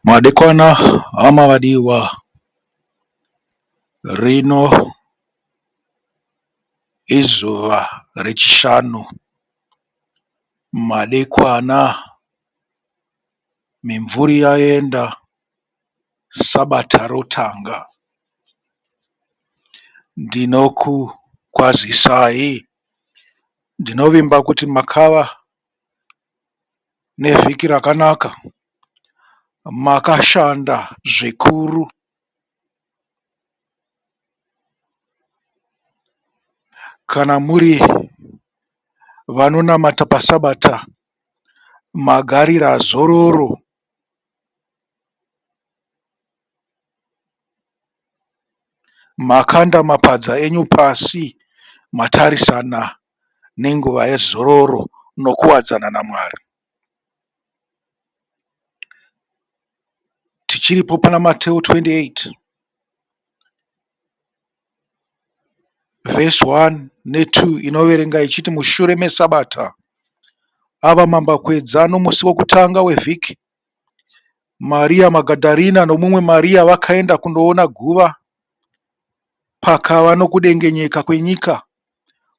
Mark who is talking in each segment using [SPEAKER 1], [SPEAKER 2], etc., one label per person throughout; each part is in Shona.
[SPEAKER 1] Madekwana hama vadiwa rino izuva rechishanu madekwana mimvuri yaenda sabata rotanga ndinokukwazisai. Ndinovimba kuti makava nevhiki rakanaka makashanda zvikuru. Kana muri vanonamata pasabata magarira zororo. Makanda mapadza enyu pasi matarisana nenguva yezororo nokuwadzana naMwari. Tichiripo pana Mateo 28 vhesi 1 ne 2 inoverenga ichiti mushure mesabata ava mambakwedza nomusi wokutanga wevhiki Maria Magadharena nomumwe Maria vakaenda kunoona guva, pakava nokudengenyeka kwenyika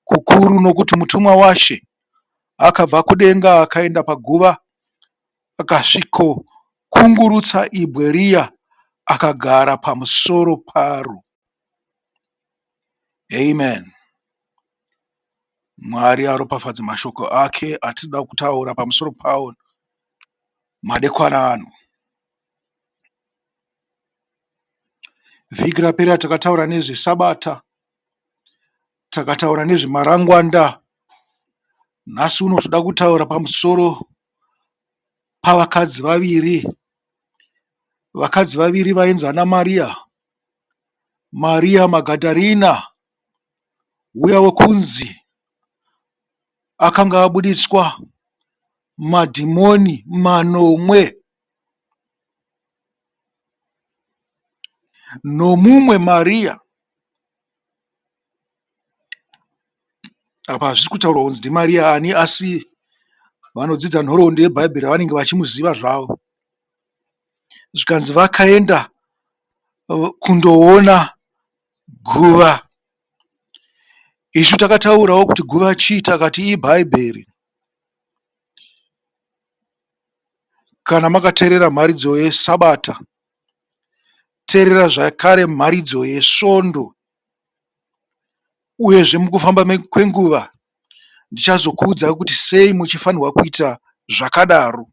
[SPEAKER 1] kukuru, nokuti mutumwa waShe akabva kudenga akaenda paguva, akasvikokungurutsa ibwe riya, akagara pamusoro paro. Amen. Mwari aropafadze mashoko ake atinoda kutaura pamusoro pawo madekwana ano. Vhiki rapera takataura nezveSabata, takataura nezvemarangwanda. Nhasi uno tinoda kutaura pamusoro pavakadzi vaviri. Vakadzi vaviri vainzi ana Mariya, Mariya Magadharina. uya wekunzi akanga abuditswa madhimoni manomwe nomumwe Maria. Apa hazvisi kutaurwa kunzi ndiMaria ani asi vanodzidza nhoroondo yeBhaibheri vanenge vachimuziva zvavo. zvikanzi vakaenda kundoona guva. Isu takataurawo kuti guva chii takati ibhaibheri. Kana makateerera mharidzo yesabata teerera zvakare mharidzo yesvondo uyezve mukufamba kwenguva ndichazokuudzai kuti sei muchifanirwa kuita zvakadaro.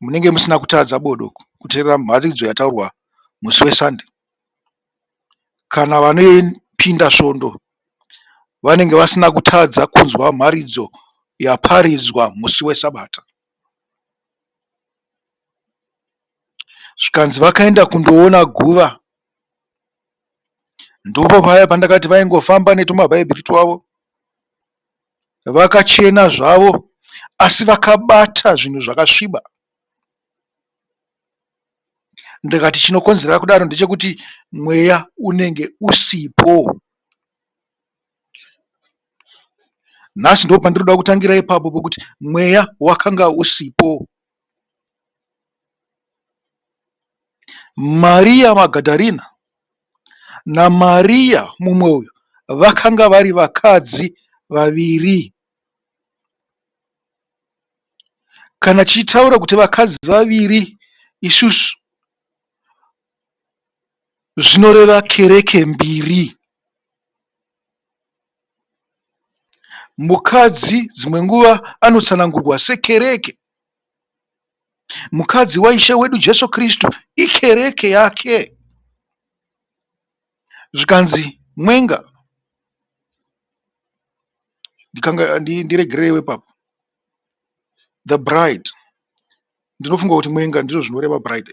[SPEAKER 1] Munenge musina kutadza bodo kuteerera mharidzo yataurwa musi weSunday. Kana vanopinda svondo vanenge vasina kutadza kunzwa mharidzo yaparidzwa musi weSabata. Zvikanzi vakaenda kundoona guva, ndipo paya pandakati vaingofamba netumabhaibheri twavo vakachena zvavo asi vakabata zvinhu zvakasviba. Ndikati chinokonzera kudaro ndechekuti mweya unenge usipo. Nhasi ndopandiri kuda kutangira ipapo pokuti mweya wakanga usipo. Mariya Magadharena naMariya mumwe uyu vakanga vari vakadzi vaviri. Kana tichitaura kuti vakadzi vaviri isusu zvinoreva kereke mbiri. Mukadzi dzimwe nguva anotsanangurwa sekereke. Mukadzi waIshe wedu Jesu Kristu ikereke yake. Zvikanzi mwenga, ndiregereiwo ipapo, the bride, ndinofunga kuti mwenga ndizvo zvinoreva bride.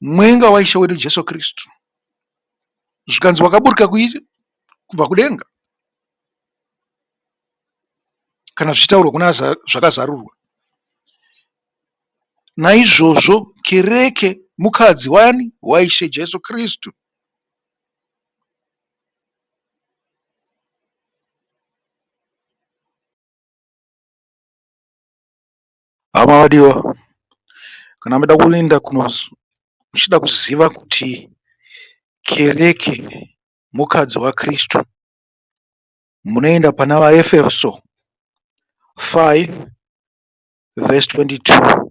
[SPEAKER 1] Mwenga waIshe wedu Jesu Kristu, zvikanzi wakaburuka kuiri kubva kudenga, kana zvichitaurwa kuna zvakazarurwa. Naizvozvo kereke mukadzi wani? WaIshe Jesu Kristu. Hama vadiwa, kana muchida kuenda kuno muchida kuziva kuti kereke mukadzi waKristu munoenda pana vaEfeso 5 vhesi 22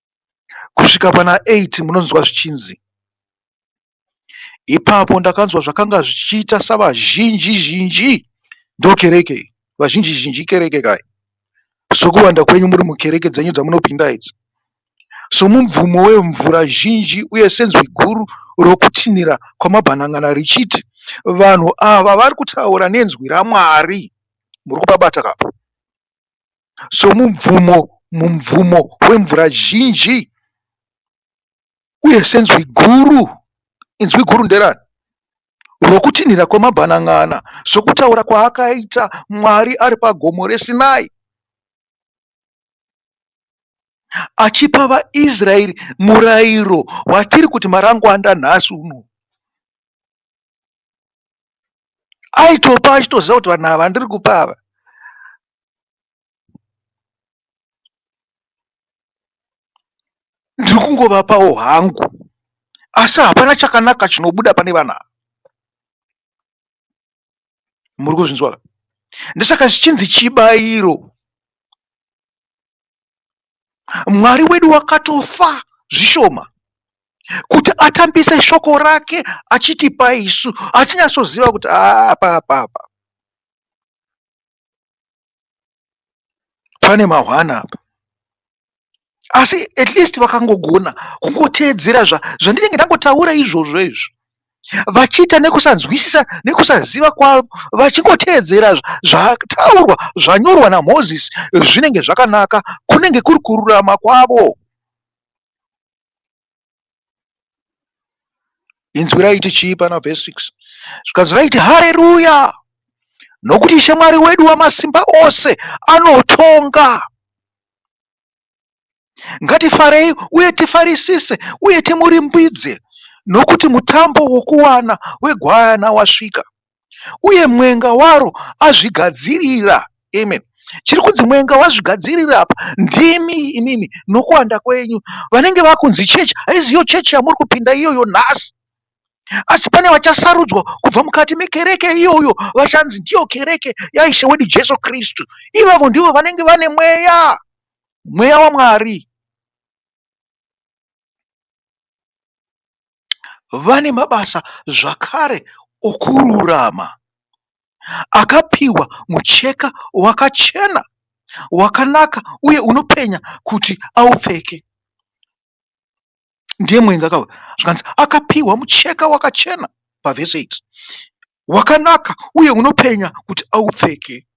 [SPEAKER 1] kusvika pana eight munonzwa zvichinzi ipapo ndakanzwa zvakanga zvichiita savazhinji zhinji ndokereke vazhinji zhinji kereke kai sokuwanda kwenyu muri mukereke dzenyu dzamunopinda idzi somubvumo wemvura zhinji uye senzwi guru rokutinhira kwamabhanangana richiti vanhu ava vari kutaura nenzwi ramwari muri kupabata kapo somubvumo mubvumo wemvura zhinji uye senzwi guru. Inzwi guru nderani? Rokutinhira kwemabhanan'ana sokutaura kwaakaita Mwari ari pagomo reSinai achipa vaIsraeri murayiro watiri kuti marangwanda nhasi uno. aitopa achitoziva kuti vanhu ava ndiri kupa ava ndiri kungovapawo hangu asi hapana chakanaka chinobuda pane vana muri kuzvinzwa ndisaka zvichinzi chibairo Mwari wedu wakatofa zvishoma kuti atambise shoko rake achitipa isu atinyatsoziva kuti ah, apa apa apa pane mahwana apa asi at least vakangogona kungoteedzera zvandinenge ndangotaura izvozvo izvo vachiita nekusanzwisisa nekusaziva kwavo vachingoteedzera zvataurwa zvanyorwa naMozisi zvinenge zvakanaka kunenge kuri kururama kwavo. Inzwi raiti chii pana vhesi 6 zvikanzi raiti hareruya nokuti ishe Mwari wedu wamasimba ose anotonga. Ngatifarei uye tifarisise uye timurimbidze, nokuti mutambo wokuwana wegwayana wasvika, uye mwenga waro azvigadzirira. Amen. Chiri kunzi mwenga wazvigadzirira apa ndimi imimi nokuwanda kwenyu. Vanenge vakunzi chechi haiziyo chechi yamuri kupinda iyoyo nhasi. Asi pane vachasarudzwa kubva mukati mekereke iyoyo vachanzi ndiyo kereke yaIshe wedu Jesu Kristu. Ivavo ndivo vanenge vane mweya, mweya waMwari. Vane mabasa zvakare okururama akapiwa mucheka wakachena wakanaka uye unopenya kuti aupfeke. ndiye mwenga ka zvikanzi akapiwa mucheka wakachena pavhesi 8 wakanaka uye unopenya kuti aupfeke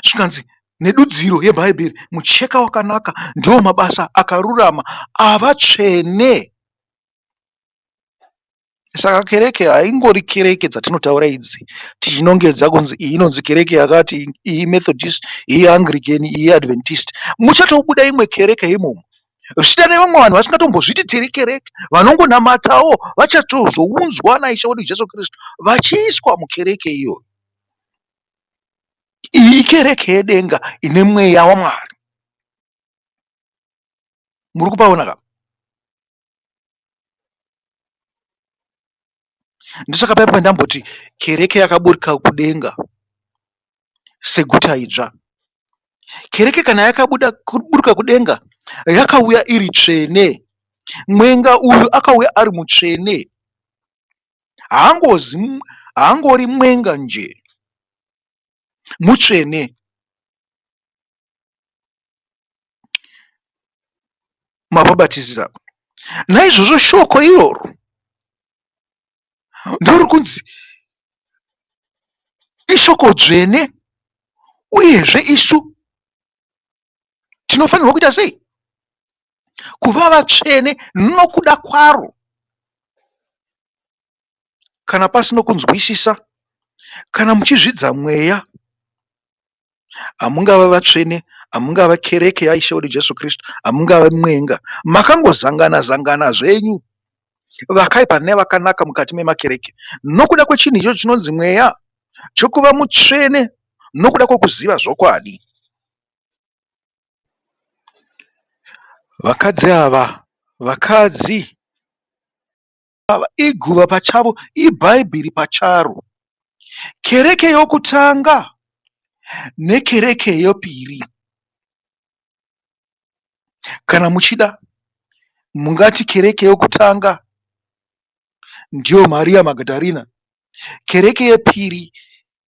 [SPEAKER 1] zvikanzi nedudziro yebhaibheri mucheka wakanaka ndiwo mabasa akarurama avatsvene Saka kereke haingori kereke dzatinotaura idzi tichinongedza kunzi iyi inonzi kereke yakati iyi methodist iyi anglican iyi adventist muchatobuda imwe kereke imomo zvichida nevamwe vanhu vasingatombozviti tiri kereke vanongonamatawo vachatozounzwa naishe wedu jesu kristu vachiiswa mukereke iyoyo iyi kereke yedenga ine mweya wamwari muri kupaona ka ndosaka paya pandamboti kereke yakaburika kudenga seguta idzva kereke kana yakabuda kuburuka kudenga yakauya iri tsvene mwenga uyu akauya ari mutsvene haangozi haangori mwenga nje mutsvene mababatizira naizvozvo shoko iroro ndori kunzi ishoko dzvene uyezve isu tinofanirwa kuita sei kuva vatsvene nokuda kwaro kana pasino kunzwisisa kana muchizvidza mweya hamungava vatsvene, hamungava kereke yaIshe wedu Jesu Kristu, hamungava mwenga. Makangozangana zangana zvenyu vakaipa nevakanaka mukati memakereke nokuda kwechinhu ichocho chinonzi mweya chokuva mutsvene nokuda kwokuziva zvokwadi. Vakadzi ava, vakadzi ava iguva pachavo ibhaibheri pacharo. Kereke yokutanga nekereke yepiri kana muchida mungati kereke yokutanga ndiyo Maria Magadharena kereke yepiri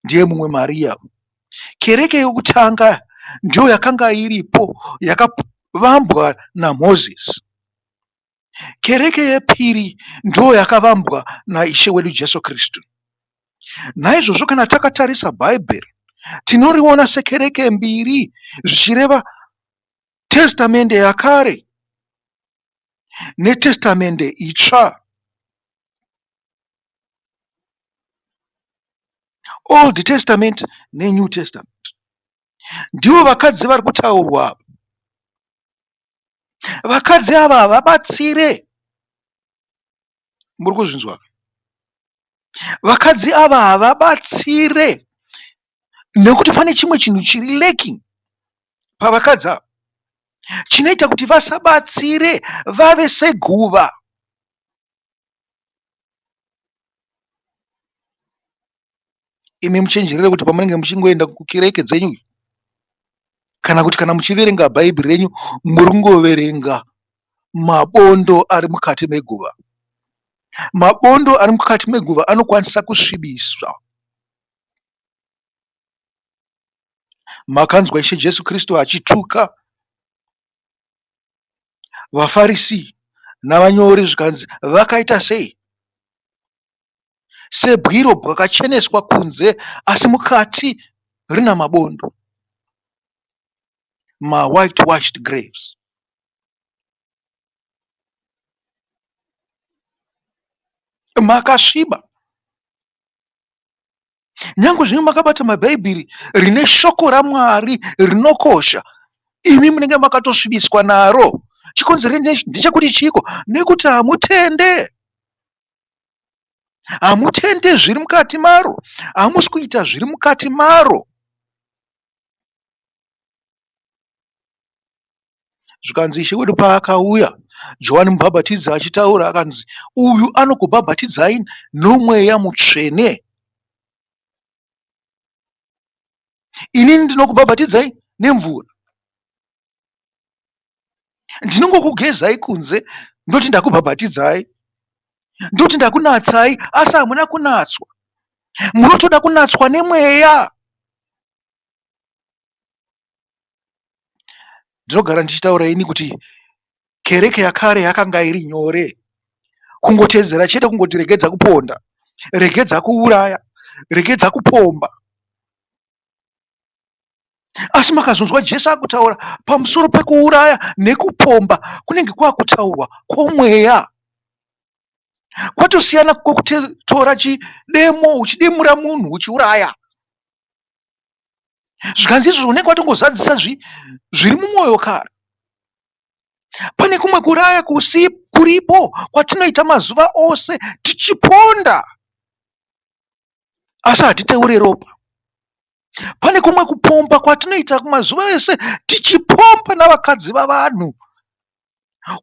[SPEAKER 1] ndiye mumwe Maria. Kereke yokutanga ndiyo yakanga iripo yakavambwa naMozisi. Kereke yepiri ndiyo yakavambwa naIshe wedu Jesu Kristu. Naizvozvo kana takatarisa Bhaibheri tinoriona sekereke mbiri zvichireva testamende yakare netestamende itsva. Old Testament neNew Testament. Ndivo vakadzi vari kutaurwa apa. Vakadzi ava havabatsire. Muri kuzvinzwa? Vakadzi ava havabatsire nekuti pane chimwe chinhu chiri lacking pavakadzi ava chinoita kuti vasabatsire vave seguva. imi muchenjerere kuti pamunenge muchingoenda kukereke dzenyu kana kuti kana muchiverenga bhaibheri renyu muri kungoverenga mabondo ari mukati meguva mabondo ari mukati meguva anokwanisa kusvibiswa makanzwa ishe jesu kristu achituka vafarisi navanyori zvikanzi vakaita sei sebwiro bwakacheneswa kunze asi mukati rina mabondo, mawhitewashed graves. Makasviba nyange zvino makabata mabhaibheri rine shoko ramwari rinokosha imi munenge makatosvibiswa naro chikonzero ndechekuti chiiko nekuti hamutende Hamutende zviri mukati maro, hamusi kuita zviri mukati maro. Zvikanzi Ishe wedu paakauya, Johani Mubhabhatidzi achitaura akanzi, uyu anokubhabhatidzai nomweya mutsvene. Inini ndinokubhabhatidzai nemvura. ndinongokugezai kunze ndoti ndakubhabhatidzai ndoti ndakunatsai asi hamuna kunatswa munotoda kunatswa nemweya ndinogara ndichitaura ini kuti kereke yakare yakanga iri nyore kungotedzera chete kungoti regedza kuponda regedza kuuraya regedza kupomba Asi makazonzwa Jesu akutaura pamusoro pekuuraya nekupomba kunenge kwakutaurwa kwomweya kwatosiyana kwokutora chidemo uchidemura munhu uchiuraya zvikanzi izvozvo unenge watongozadzisa zviri mumwoyo kare pane kumwe kuraya kusi kuripo kwatinoita mazuva ose tichiponda asi hatiteure ropa. Pane kumwe kupomba kwatinoita mazuva ese tichipomba navakadzi vavanhu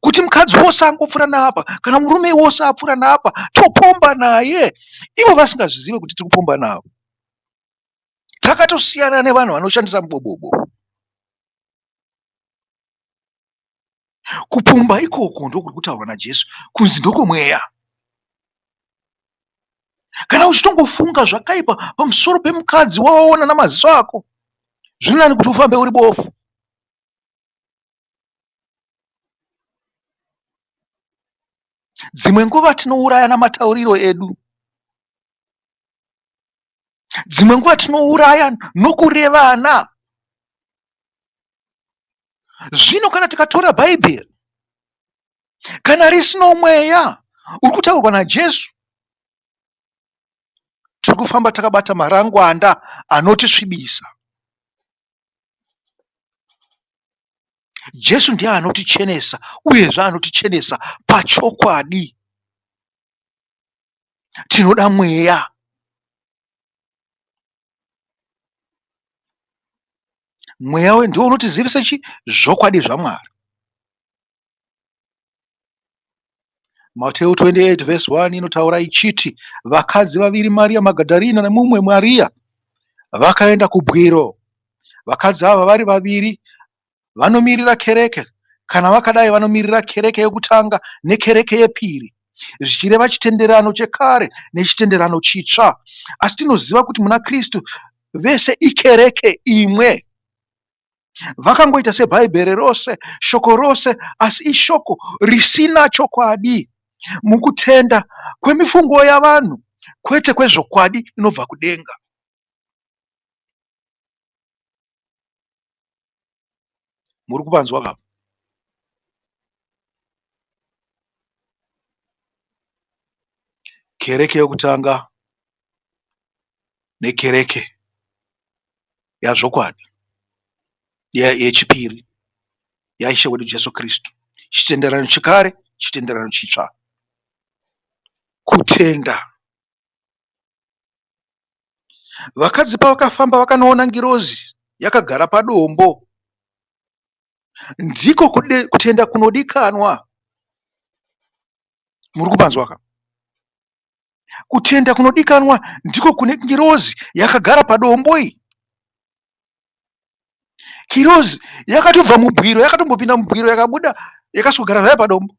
[SPEAKER 1] kuti mukadzi wose angopfuura naapa kana murume wose apfuura naapa topomba naye ivo vasingazvizive kuti tiri kupomba navo. Takatosiyana nevanhu vanoshandisa mubobobo. Kupomba ikoko ndokuri kutaurwa naJesu kunzi ndokwemweya. Kana uchitongofunga zvakaipa pamusoro pemukadzi wawaona namaziso ako, zviri nani kuti ufambe uri bofu. Dzimwe nguva tinouraya namatauriro edu. dzimwe nguva tinouraya nokurevana zvino kana tikatora bhaibheri kana risino mweya uri kutaurwa najesu tiri kufamba takabata marangwanda anotisvibisa jesu ndiye anotichenesa uyezve anotichenesa pachokwadi tinoda mweya mweya we ndiwo unotizivisa chi zvokwadi zvamwari mateu 28 vhesi 1 inotaura ichiti vakadzi vaviri mariya magadharina nemumwe mariya vakaenda kubwiro vakadzi ava vari vaviri vanomirira kereke kana vakadai vanomirira kereke yekutanga nekereke yepiri zvichireva chitenderano chekare nechitenderano chitsva asi tinoziva kuti muna kristu vese ikereke imwe vakangoita sebhaibheri rose shoko rose asi ishoko risina chokwadi mukutenda kwemifungo yavanhu kwete kwezvokwadi inobva kudenga Muri kupanzwa ka? Kereke yokutanga nekereke yazvokwadi yechipiri yaIshe wedu Jesu Kristu. Chitenderano chekare, chitenderano chitsva. Kutenda Vakadzi pavakafamba vakanoona ngirozi yakagara padombo. Ndiko kutenda kunodikanwa. Muri kupanzwa ka? Kutenda kunodikanwa ndiko kune ngirozi yakagara padombo iyi. Ngirozi yakatobva mubwiro, yakatombopinda mubwiro yakabuda yakasogara zvayo padombo.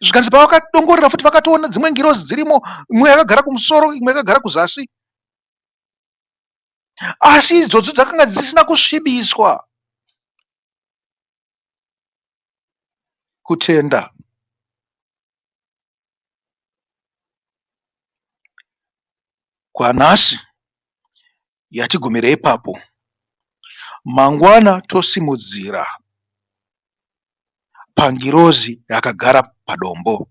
[SPEAKER 1] zvikanzi pavakadongorera futi vakatoona dzimwe ngirozi dzirimo imwe yakagara kumusoro imwe yakagara kuzasi asi idzodzo dzakanga dzisina kusvibiswa kutenda kwanhasi yatigumira ipapo. Mangwana tosimudzira pangirozi yakagara padombo.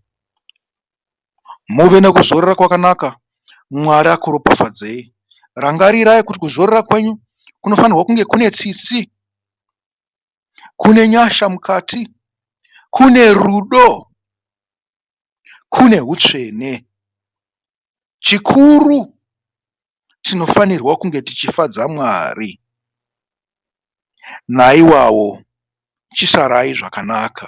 [SPEAKER 1] Muve nekuzorora kwakanaka. Mwari akuropafadzei. Rangarirai kuti kuzorora kwenyu kunofanirwa kunge kune tsitsi, kune nyasha mukati, kune rudo. kune hutsvene. Chikuru tinofanirwa kunge tichifadza Mwari. Naiwawo chisarai zvakanaka.